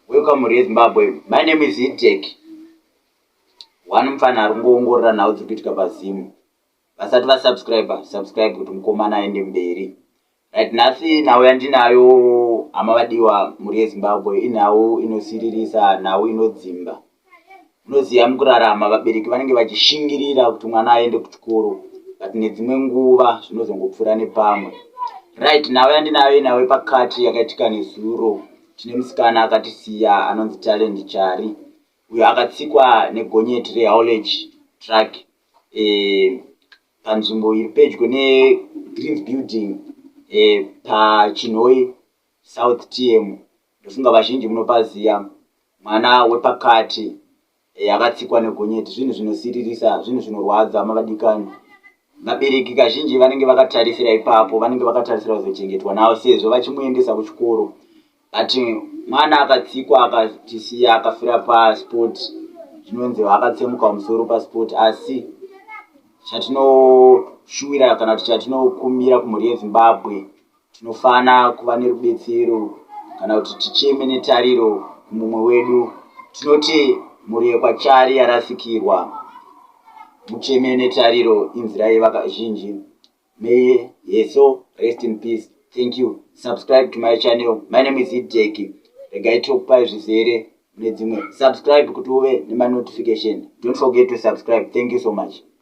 Welcome to Zimbabwe. My name is Itek. One mfana ari kungoongorora nhau dziri kuitika paZim. Vasati vasubscriber, subscribe kuti mukomana aende mberi. Right, nhasi nhau yandinayo hama vadiwa mhuri yeZimbabwe inhau inosiririsa, nhau inodzimba. unoziva mukurarama vabereki vanenge vachishingirira kuti mwana aende kuchikoro but nedzimwe nguva zvinozongopfuura nepamwe right nhau yandinayo inhau yepakati yakaitika nezuro tine musikana akatisiya anonzi talent chari uyo akatsikwa negonyeti rehowledge truck eh, panzvimbo iri pedyo negreens building eh, pachinhoi south tm Ndofunga vazhinji munopaziva mwana wepakati eh, akatsikwa negonyeti zvinhu zvinosiririsa, zvinhu zvinorwadza mavadikani. Vabereki kazhinji vanenge vakatarisira ipapo, vanenge vakatarisira kuzochengetwa navo sezvo vachimuendesa kuchikoro but mwana akatsikwa akatisiya akafira pasport zvinonzi akatsemuka kumusoro pasport asi chatinoshuwira kana kuti chatinokumbira kumhuri yezimbabwe Tinofana kuva nerubetsero kana kuti ticheme netariro kumumwe wedu. Tinoti mhuri yekwaChari yarasikirwa. Mucheme netariro inzira yevakazhinji. May her soul rest in peace. Thank you. Subscribe to my channel. My name is Hideki. Regai tokupai zvizere mune dzimwe. Subscribe kuti uve nemanotification. Don't forget to subscribe. Thank you so much.